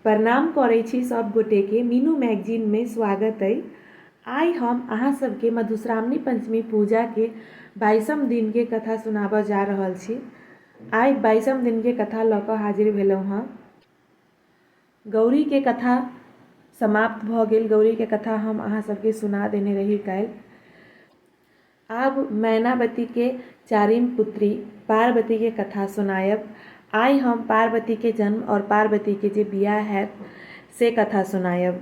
प्रणाम करै छी सब गोटे के मीनू मैगजीन में स्वागत अइ आइ हम अहाँ सबके मधुश्रावणी पंचमी पूजा के बाईसम दिन के कथा सुनाबऽ जा रहल छी आइ बाईसम दिन के कथा लऽ कऽ हाजिर भेलहुँ हँ गौरी के कथा समाप्त भऽ गेल गौरी के कथा हम अहाँ सबके सुना देने रही काल्हि आब मैनावती के चारिम पुत्री पार्वती के कथा सुनायब। आइ हम पार्वती के जन्म आओर पार्वती के जे बियाह हएत से कथा सुनायब।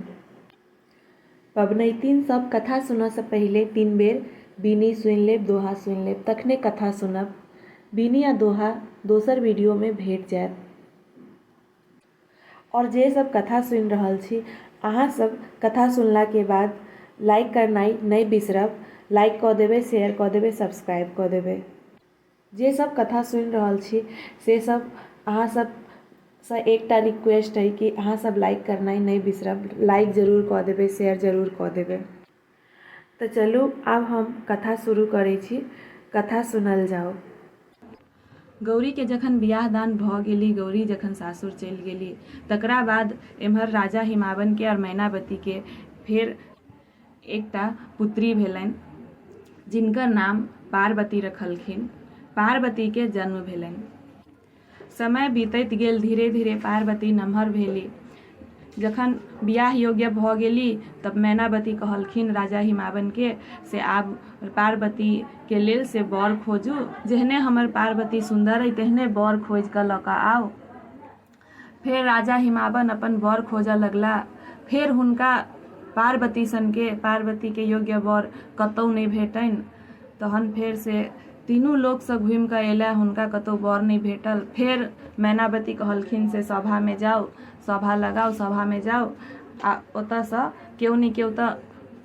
पबनैतिन सब कथा सुनऽ सँ पहिले तीन बेर बीनी सुनि लेब, दोहा सुनि लेब तखने कथा सुनब। बीनी आ दोहा दोसर वीडियो मे भेट जाएत। आओर जे सब कथा सुनि रहल छी अहाँ सब कथा सुनलाके बाद लाइक करनाइ नहि बिसरब लाइक कऽ देबै शेयर कऽ देबै सब्सक्राइब कऽ देबै जे सब कथा सुनि रहल छी से सब अहाँ सबसँ एकटा रिक्वेस्ट अइ कि अहाँ सब लाइक करनाइ नहि बिसरब लाइक जरूर कऽ देबै शेयर जरूर कऽ देबै त चलू आब हम कथा शुरू करै छी। कथा सुनल जाउ। गौरी के जखन बियाह दान भ गेलि गौरी जखन सासुर चलि गेलि तकरा बाद एम्हर राजा हिमावन के और मैनावती के फेर एकटा पुत्री भेलनि जिनकर नाम पार्वती रखलखिन। पार्वती के जन्म भेलनि। समय बीतैत गेल धीरे धीरे पार्वती नमहर भेली जखन बियाह योग्य भऽ गेली तब मैनावती कहलखिन राजा हिमावनके से आब पार्वतीके लेल से बर खोजू जेहने हमर पार्वती सुन्दर अइ तेहने बर खोजि कऽ लऽ कऽ आउ फेर राजा हिमावन अपन बर खोजऽ लगला फेर हुनका पार्वती सनके पार्वतीके योग्य बर कतहु नहि भेटनि तहन फेर से तीनू लोकसँ घुमि कऽ एलए हुनका कतहु बर नहि भेटल फेर मैनावती कहलखिन से सभामे जाउ सभा लगाउ सभामे जाउ आ ओतयसँ केओ ने केओ तऽ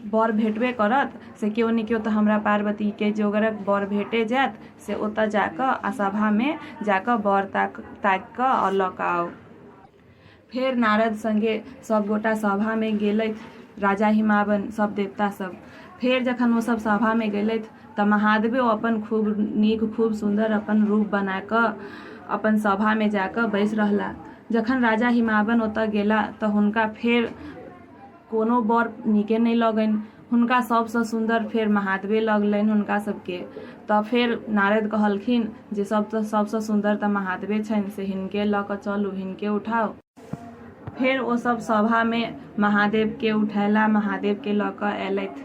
बर भेटबे करत से केओ ने केओ तऽ हमरा पार्वतीके जोगरक बर भेटे जायत से ओतय जा कऽ आ सभामे जा कऽ बर ताकि कऽ आओर लऽ कऽ आउ फेर नारद संगे सब गोटा सभा में गेलथि राजा हिमावन सब देवता सब फेर जखन ओ सब सभा में गेलथि तऽ महादेवे अपन खूब नीक खूब सुंदर अपन रूप बना कऽ अपन सभा में जाकऽ बैस रहला जखन राजा हिमावन ओतऽ गेला तऽ हुनका फेर कोनो बर नीके नहि लगनि हुनका सभसँ सुन्दर फेर महादेवे लगलनि हुनका सभके तऽ फेर नारद कहलखिन जे सभ तऽ सभसँ सुन्दर तऽ महादेवे छनि से हिनके लऽ कऽ चलू हिनके उठाउ फेर ओ सभ सभामे महादेवके उठेला महादेवके लऽ कऽ अयलथि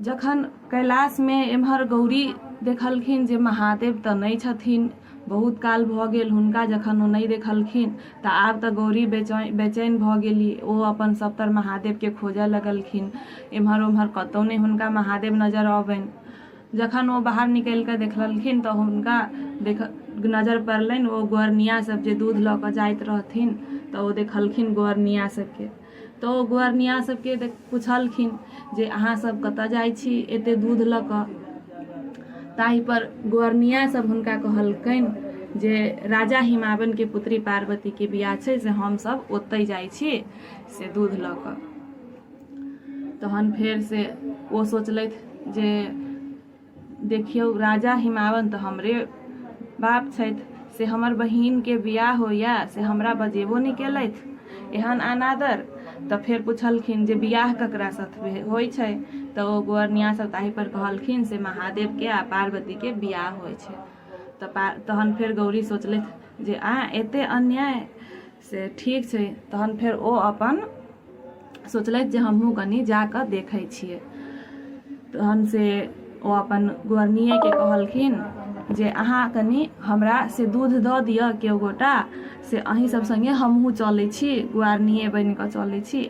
जखन कैलाशमे एम्हर गौरी देखलखिन जे महादेव तऽ नहि छथिन बहुत काल भऽ गेल हुनका जखन ओ नहि देखलखिन तऽ आब तऽ गौरी बेचैन बेचैन भऽ गेली ओ अपन सभतर महादेवके खोजऽ लगलखिन एम्हर ओम्हर कतौ नहि हुनका महादेव नजर अबनि जखन ओ बाहर निकलि कऽ देखलखिन तऽ हुनका देख नजर पड़लनि ओ गोरनिया सभ जे दूध लऽ कऽ जाइत रहथिन तऽ ओ देखलखिन गोरनिया सभके तऽ ओ गोरनिया सबके पुछलखिन जे अहाँ सब कतऽ जाइ छी एते दूध लऽ कऽ ताहि पर गोरनिया सब हुनका कहलकैन जे राजा हिमावन के पुत्री पार्वती के बियाह छै से हम सब ओतै जाइ छी से दूध लऽ कऽ तहन फेर से ओ सोचलथि जे देखियौ राजा हिमावंत हमरे बाप छथि से हमर बहिनके बियाह होइए से हमरा बजेबो नहि केलथि एहन अनादर तऽ फेर पुछलखिन जे बियाह ककरा साथ होइ छै तऽ ओ गोअरनिया सब ताहि पर कहलखिन से महादेवके आ पार्वतीके बियाह होइ छै तऽ पा तहन फेर गौरी सोचलथि जे आँय एते अन्याय से ठीक छै तहन फेर ओ अपन सोचलथि जे हमहूँ कनि जा कऽ देखै छियै तहन से ओ अपन गोरनिएके कहलखिन जे अहाँ कनि हमरा से दूध दऽ दिअ केओ गोटा से अहीं सब सङ्गे हमहूँ चलै छी गुआरनिए बनि कऽ चलै छी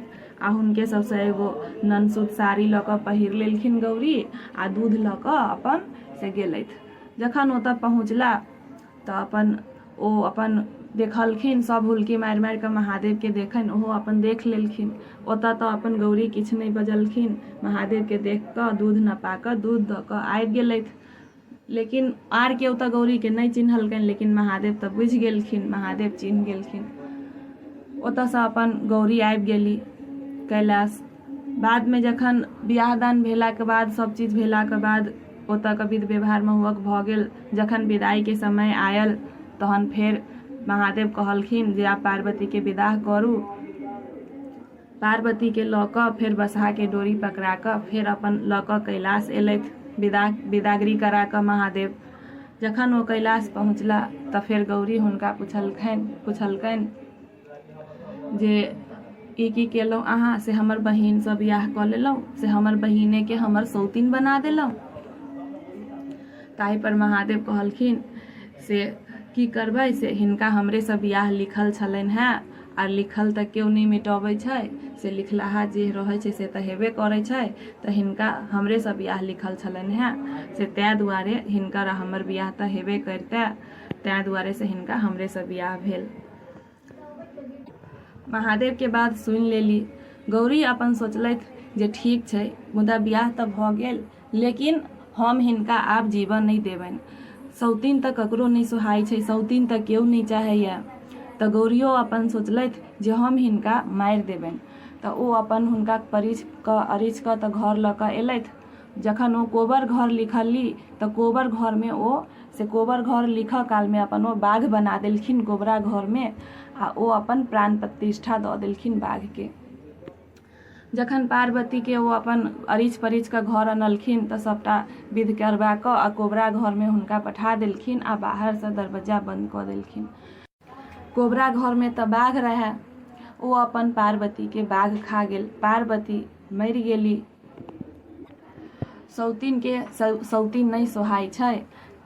आ हुनके सबसँ एगो ननसूत साड़ी लऽ कऽ पहिर लेलखिन गौरी आ दूध लऽ कऽ अपन से गेलथि जखन ओतऽ पहुँचला तऽ अपन ओ अपन देखलखिन सभ हुलकी मारि मारि कऽ महादेवके देखैन ओहो अपन देख लेलखिन ओतऽ तऽ अपन गौरी किछु नहि बजलखिन महादेवके देख कऽ दूध नपा कऽ दूध दऽ कऽ आबि गेलथि लेकिन आर केओ तऽ गौरीके नहि चिन्हलकैन लेकिन महादेव तऽ बुझि गेलखिन महादेव चिन्ह गेलखिन ओतऽसँ अपन गौरी आबि गेली कैलाश बादमे जखन बिआह दान भेलाके बाद सभ चीज भेलाके बाद ओतऽके विध व्यवहार महुहक भऽ गेल जखन विदाइके समय आयल तहन फेर महादेव कहलखिन जे आब पार्वतीके विदाह करू पार्वतीके लऽ कऽ फेर बसहाके डोरी पकड़ा कऽ फेर अपन लऽ कऽ कैलाश एलथि विदा विदागरी करा कऽ महादेव जखन ओ कैलाश पहुँचला तऽ फेर गौरी हुनका पुछलखिन पुछलकनि जे की की केलहुँ अहाँ से हमर बहिनसँ बियाह कऽ लेलहुँ से हमर बहिनेके हमर सौतीन बना देलहुँ ताहिपर महादेव कहलखिन से की करबै से हिनका हमरेसँ बियाह लिखल छलनि हेँ आर लिखल तऽ केओ नहि मिटबै छै से लिखलाहा जे रहै छै से तऽ हेबे करै छै तऽ हिनका हमरेसँ बियाह लिखल छलनि हेँ से ताहि दुआरे हिनकर आ हमर बियाह तऽ हेबे करितै ताहि दुआरे से हिनका हमरेसँ बियाह भेल महादेव के बात सुनि लेली गौरी अपन सोचलथि जे ठीक छै मुदा बियाह तऽ भऽ गेल लेकिन हम हिनका आब जीवन नहि देबनि सौतीन तऽ ककरो नहि सुहाइ छै सौतीन तऽ केओ नहि चाहैए तऽ गौरियो अपन सोचलथि जे हम हिनका मारि देबनि तऽ ओ अपन हुनका परिछ कऽ अरिछ कऽ तऽ घर लऽ कऽ एलथि जखन ओ कोबर घर लिखली तऽ कोबर घरमे ओ से कोबर घर लिखऽ कालमे अपन ओ बाघ बना देलखिन कोबरा घरमे आ ओ अपन प्राण प्रतिष्ठा दऽ देलखिन बाघके जखन पार्वतीके ओ अपन अरिच परिच कऽ घर अनलखिन तऽ सभटा विध करबा कऽ आ कोबरा घरमे हुनका पठा देलखिन आ बाहरसँ दरवज्जा बन्द कऽ देलखिन कोबरा घरमे तऽ बाघ रहै ओ अपन पार्वतीके बाघ खा गेल पार्वती मरि गेली सौतीनके सौतीन नहि सोहाइ छै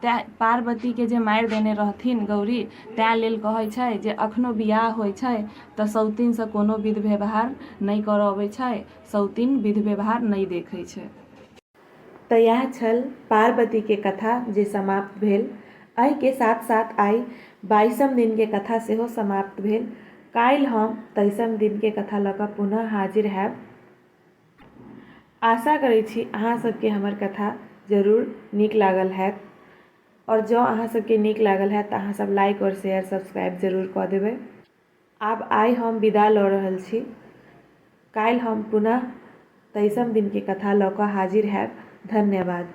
तैँ पार्वतीके जे मारि देने रहथिन गौरी तैँ लेल कहै छै जे अखनो बियाह होइ छै तऽ सौतीनसँ कोनो विध व्यवहार नहि करऽ अबै छै सौतीन विध व्यवहार नहि देखै छै त यैह छल पारबती के कथा जे समाप्त भेल। अहि के साथ साथ आइ बाइसम दिन के कथा सेहो समाप्त भेल। काइल हम तैसम दिन के कथा ल क पुनः हाजिर हैब। आशा करै छी अहाँ सब के हमर कथा जरूर नीक लागल हैत। और जँ अहाँ सब के नीक लागल हैत त अहाँ सब लाइक और शेयर सब्सक्राइब जरूर क देबै। आब आइ हम विदा लऽ रहल छी। काल्हि हम पुनः तैसम दिनके कथा लऽ कऽ हाजिर हैब। धन्यवाद।